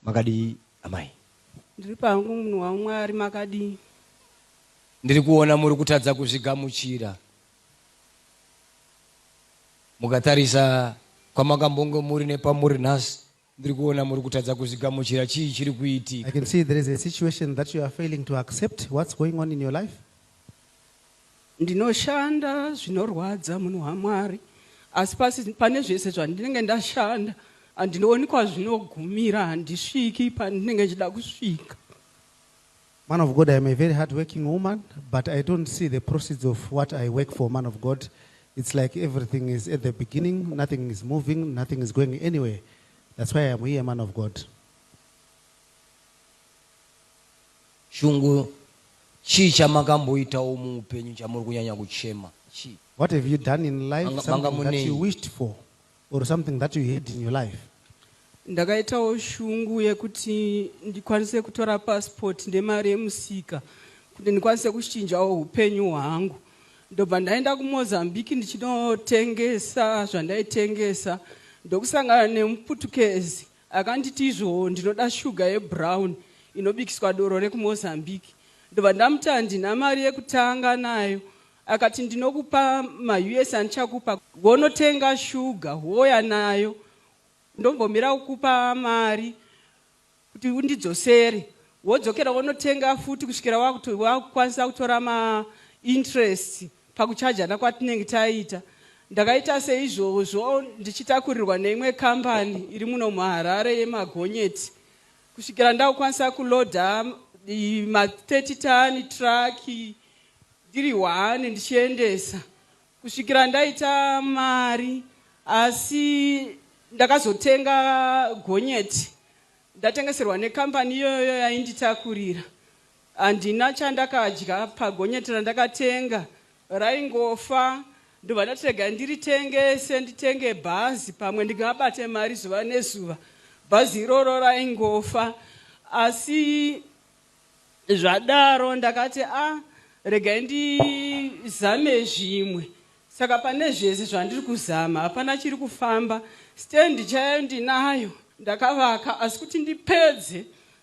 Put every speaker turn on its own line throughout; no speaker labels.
Makadii amai. Ndiri pangu
munhu waMwari makadii.
Ndiri kuona muri kutadza kuzvigamuchira mukatarisa kwamakambonge muri nepamuri nhasi ndiri kuona muri kutadza kuzvigamuchira chii chiri kuitika. I can see there is a
situation that you are failing to accept what's going on in your life. Ndinoshanda
zvinorwadza munhu waMwari asi pasi pane zvese zvandinenge ndashanda handinooni kwazvinogumira handisviki pandinenge ndichida kusvika.
Man of God, I am a very hardworking woman, but I don't see the proceeds of what I work for, man of God. It's like everything is at the beginning, nothing is moving, nothing is going anywhere. That's why I am here, man of God.
Shungu chii chamakamboitawo muupenyu chamuri kunyanya kuchema chii. What have you done in
life Manga manga something that munei. you wished for or something that you had in your life? Ndakaitawo
shungu yekuti ndikwanise kutora passport ndemari yemusika kuti ndikwanise kuchinjawo hupenyu hwangu. Ndobva ndaenda kuMozambique ndichinotengesa zvandaitengesa ndokusangana nemuputukezi Akanditi izvoo ndinoda sugar yebrown inobikiswa doro rekuMozambique ndobva ndamuti handina mari yekutanga nayo akati ndinokupa maUS andichakupa wonotenga sugar wouya nayo ndombomira kukupa mari kuti undidzosere wodzokera wonotenga futi kusvikira wakukwanisa kutora mainterest Pakuchajana kwatinenge taita, ndakaita seizvozvo ndichitakurirwa neimwe kambani iri muno muHarare yemagonyeti kusvikira ndakukwanisa kuloader ma 30 ton truck ndiri one ndichiendesa kusvikira ndaita mari asi ndakazotenga gonyeti ndatengeserwa nekambani iyoyo yainditakurira Handina chandakadya pagonyeti randakatenga raingofa ndobva ndati regai ndiritengese nditenge bhazi pamwe ndingabate mari zuva nezuva. Bhazi iroro raingofa asi zvadaro ndakati a ah, regai ndizame zvimwe saka pane zvese zvandiri kuzama hapana chiri kufamba stendi chayo ndinayo ndakavaka asi kuti ndipedze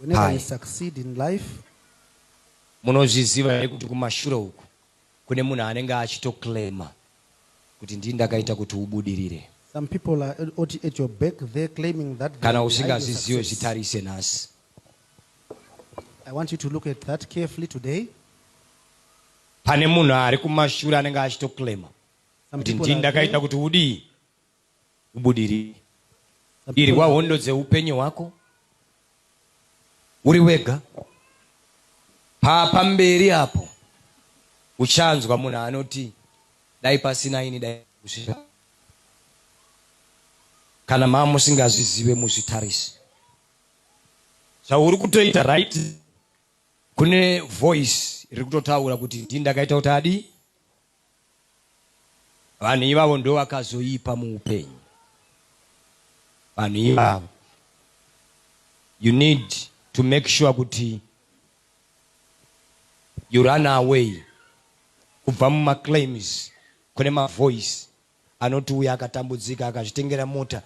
Whenever you
succeed in life. Munozviziva
here kuti kumashure uku kune munhu anenge achitoclaima kuti ndini ndakaita kuti ubudirire? Some people are
oti at your back there claiming that Kana usingazvizive
zvitarise nhasi.
I want you to look at that carefully today.
Pane munhu ari kumashure anenge achitoclaima kuti ndini ndakaita kuti udii? ubudirire. Irwa hondo dzeupenyu hwako uri wega. Pamberi apo uchanzwa munhu anoti dai pasina ini dai kusvika. Kana mama musingazvizive muzvitarise zvauri kutoita right. Kune voice riri kutotaura kuti ndini ndakaita kuti adii Vanhu ivavo ndovakazoipa muupenyu. Vanhu ivavo. You need to make sure kuti you run away kubva mumaclaims kune mavoice anoti uya akatambudzika akazvitengera mota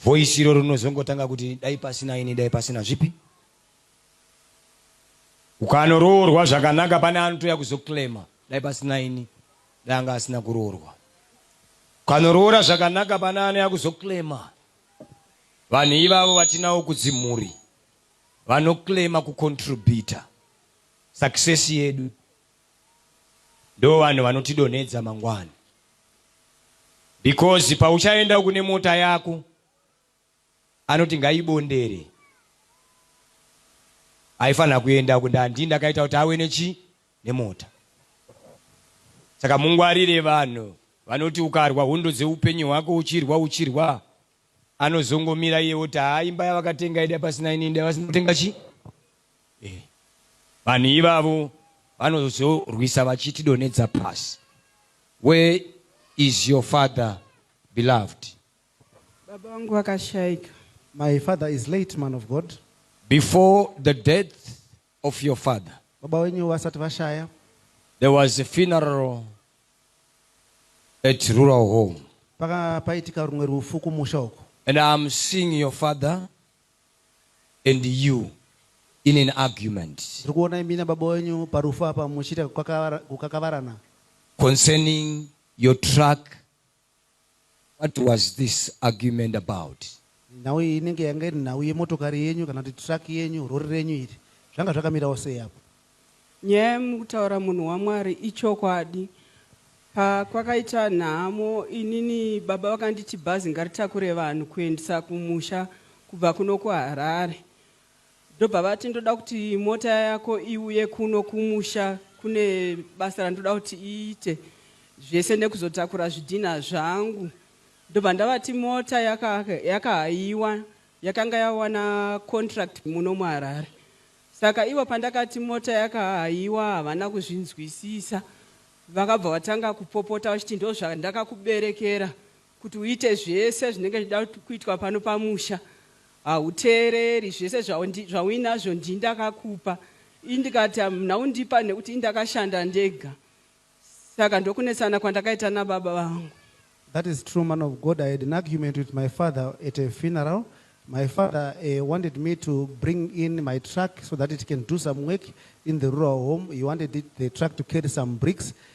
voice iroro rinozongotanga kuti dai pasina ini dai pasina zvipi ukanoroorwa zvakanaka pane anotouya kuzoclaima dai pasina ini dai anga asina kuroorwa ukanoroora zvakanaka pane anouya kuzoclaima vanhu ivavo vatinawo kudzimhuri vanoclaima kucontributa success yedu Ndovanhu vanotidonhedza mangwana because pauchaenda uku nemota yako anoti ngaibondere aifanira kuenda uku ndandii ndakaita kuti awe nechi nemota saka mungwarire vanhu vanoti ukarwa hondo dzeupenyu hwako uchirwa uchirwa Anozongomira iye oti haa imba yavakatenga ida pasina inini dai vasina kutenga chi eh. Vanhu ivavo vanozorwisa vachiti donedza pasi. Where is your father beloved?
Baba vangu vakashaika. My father
is late man of God. Before
the death of your father. Baba wenyu vasati
vashaya. There was a
funeral at rural home. Paka paitika
rumwe rufu kumusha uko. And I'm seeing
your father and you in an argument. Ndiri kuona imi nababa
wenyu parufu apa muchiita kukakavarana. Concerning
your truck What was this argument about? Nhau iyi inenge
yanga iri nhau yemotokari yenyu kana kuti truck yenyu, rori renyu iri. Zvanga zvakamirawo sei apo? Nyaya
yamukutaura munhu waMwari ichokwadi. Pakwakaita nhamo inini baba vakanditi bhazi ngaritakure vanhu kuendisa kumusha kubva kuno kuHarare. Ndobva vati ndoda kuti mota yako iuye kuno kumusha kune basa randoda kuti iite zvese nekuzotakura zvidhinha zvangu ndobva ndavati mota yakahayiwa yaka yakanga yawana contract muno muharare saka ivo pandakati mota yakahayiwa havana kuzvinzwisisa vakabva vatanga kupopota vachiti ndozvandakakuberekera Kuti uite zvese zvinenge zvichida kuitwa pano pamusha hauteereri zvese zvauinazvo ndii ndakakupa ii ndikati hamuna kundipa nekuti ii ndakashanda ndega saka ndokunetsana kwandakaita nababa vangu. That is true
man of God I had an argument with my father at a funeral my father uh, wanted me to bring in my truck so that it can do some work in the rural home he wanted it, the truck to carry some bricks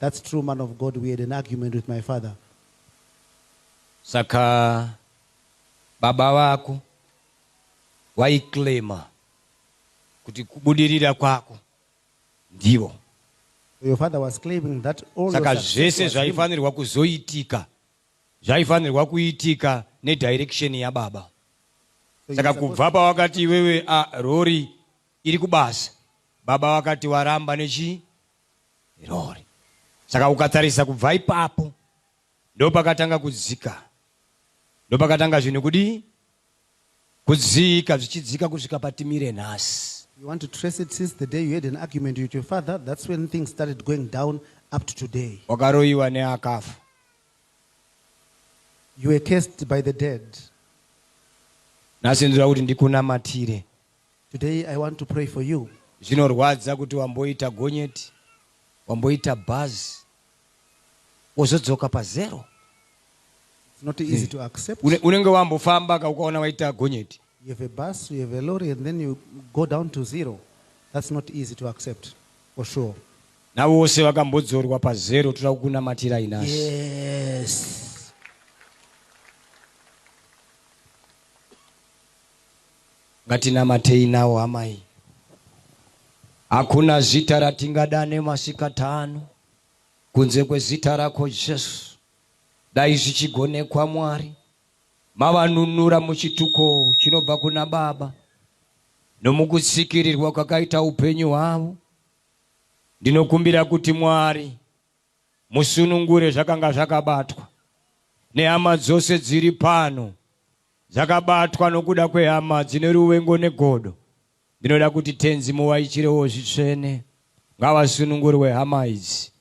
That's true man of God we had an argument with my father. Saka
baba vako vaiclaimer kuti kubudirira kwako ndivo
Your father was claiming that all saka your success zvese was him.
zvaifanirwa kuzoitika zvaifanirwa kuitika nedirection yababa So you saka supposed- kubva pawakati iwewe a rori iri kubasa baba vakati waramba nechi rori saka ukatarisa kubva ipapo ndopakatanga kudzika ndopakatanga zvinhu kudii kudzika zvichidzika kusvika patimire nhasi You want to trace it
since the day you had an argument with your father, that's when things started going down up to today. wakaroyiwa neakafa You were cursed by the dead.
nhasi ndinoda kuti ndikunamatire Today
I want to pray for you. Zvinorwadza kuti
wamboita gonyeti, wamboita bhazi, wozodzoka pazero.
It's not easy to accept. Une- Unenge wambofamba
ka ukaona waita gonyeti. You have a bus, you
have a lorry, and then you go down to zero. That's not easy to accept, for sure. Navo vose
vakambodzorwa pazero toda kukunamatirai nhasi. Yes. Ngatinamatei nawo hama iyi. Hakuna zita ratingadane masikati ano kunze kwezita rako Jesu. Dai zvichigonekwa Mwari, mavanunura muchituko chinobva kuna Baba nomukutsikirirwa kwakaita upenyu hwavo. Ndinokumbira kuti Mwari musunungure zvakanga zvakabatwa nehama dzose dziri pano Dzakabatwa nokuda kwehama dzine ruvengo negodo. Ndinoda kuti Tenzi muvaichirewo zvitsvene. Ngavasunungurwe hama idzi.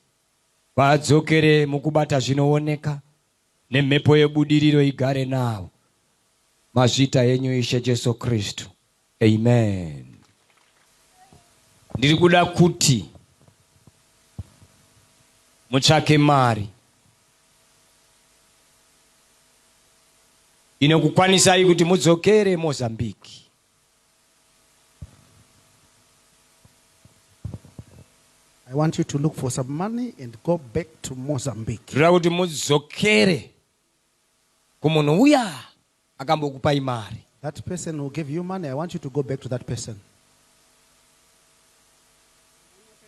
Vadzokere mukubata zvinooneka. Nemhepo yebudiriro igare navo. Mazviita henyu Ishe Jesu Kristu. Amen ndiri kuda kuti mutsvake mari inokukwanisai kuti mudzokere Mozambique.
I want you to look for some money and go back to Mozambique. Ndira kuti
mudzokere kumunhu uya akambokupai mari. That person who gave
you money, I want you to go back to that person.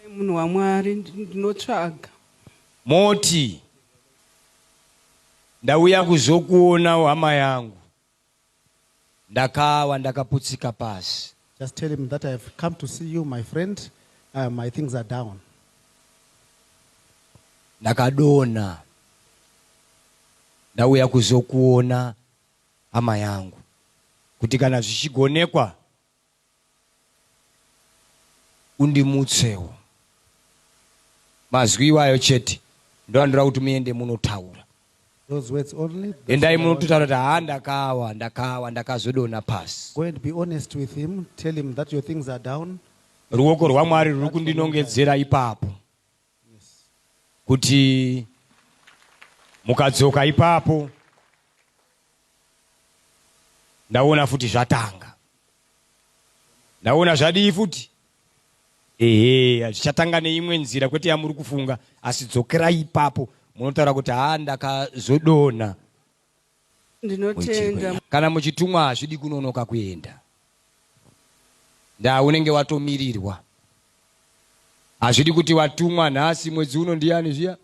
Nyakai munhu waMwari, ndi- ndinotsvaga. Moti,
ndauya kuzokuonawo hama yangu. Ndakawa ndakaputsika pasi. Just tell him that I
have come to see you my friend uh, my things are down.
Ndakadona ndauya kuzokuona hama yangu kuti kana zvichigonekwa undimutsewo mazwi iwayo chete ndoandira kuti muende munotaura Those words
only. That's Endai all I want. munototaura kuti
haa ndakawa ndakawa ndakazodona pasi. Go and be honest with
him. Tell him that your things are down. Ruoko rwaMwari
ruri kundinongedzera ipapo Yes. kuti mukadzoka ipapo ndaona futi zvatanga. Ndaona zvadii futi? Ehe, zvichatanga neimwe nzira kwete yamuri kufunga, asi dzokerai ipapo munotaura kuti haa ndakazodonha.
Ndinotenda. Kana muchitumwa hazvidi
kunonoka kuenda. Ndaa unenge watomirirwa. Hazvidi kuti watumwa nhasi mwedzi uno ndiyani zviya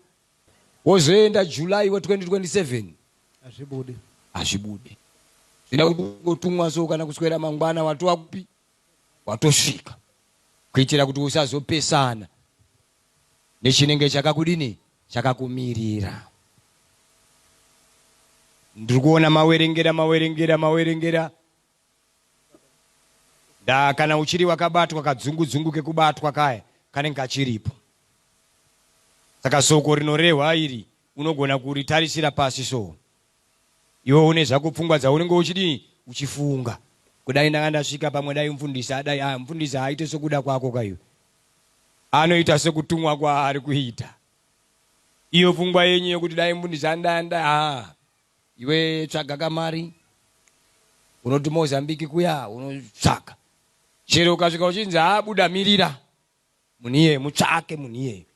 wozoenda July wa 2027. Hazvibude. Hazvibude. Zvida kuti ungotumwa so kana kuswera mangwana watova kupi? watosvika kuitira kuti usazopesana nechinenge chakakudini chakakumirira ndiri kuona mawerengera mawerengera mawerengera da kana uchiri wakabatwa kadzungu dzungu kekubatwa kaya kanenge kachiripo saka soko rinorehwa iri unogona kuritarisira pasi soo Iwe une zvako pfungwa dzaunenge uchidii uchifunga kudai ndanga ndasvika pamwe dai mfundisi adai ah mfundisi haaite sokuda kwako ka iwe anoita sokutumwa kwaari kuita iyo pfungwa yenyu yekuti dai mfundisi andanda ah iwe tsvaga kamari unoti mozambiki kuya unotsvaga chero ukasvika uchinzi haabuda mirira Munhu iyeye mutsvake munhu iyeye.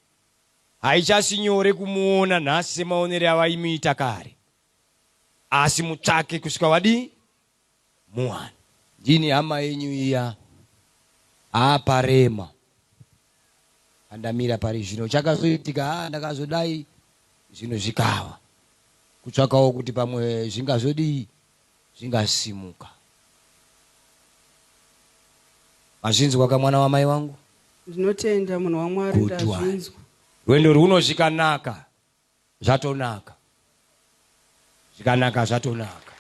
Haichasi nyore kumuona nhasi semaonere avaimuita kare. Asi mutsvake kusvika wadii? Muwana. Ndini hama yenyu iya. Haa parema. Pandamira pari zvino chakazoitika haa ndakazodai zvinhu zvikava. Kutsvakawo kuti pamwe zvingazodii zvingasimuka. Mazvinzwa ka mwana wamai wangu? Ndinotenda
munhu waMwari Good one. ndazvinzwa. Rwendo rwuno
zvikanaka zvatonaka. Zvikanaka zvatonaka.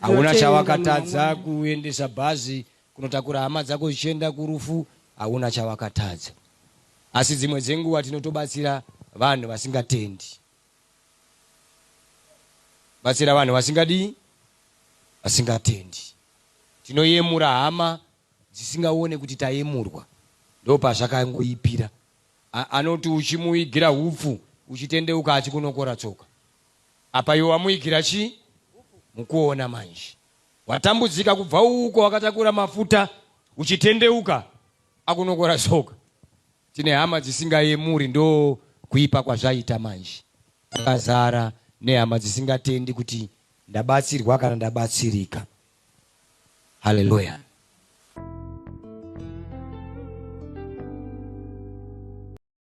Hauna Ndinotenda chawakatadza mwana wamwari. kuendesa bhazi kunotakura hama dzako zvichienda kurufu hauna chawakatadza. Asi dzimwe dzenguva tinotobatsira vanhu vasingatendi. Batsira vanhu vasingadii? Vasingatendi. Tinoyemura hama dzisingaone kuti tayemurwa. Ndopazvakangoipira. A, anoti uchimuigira hupfu uchitendeuka achikunokora tsoka. Apa iwe wamuigira chii? Mukuona manje. Watambudzika kubva uko wakatakura mafuta uchitendeuka akunokora tsoka. Tine hama dzisingayemuri ndo kuipa kwazvaita manje. Takazara nehama dzisingatendi kuti ndabatsirwa kana ndabatsirika. Hallelujah.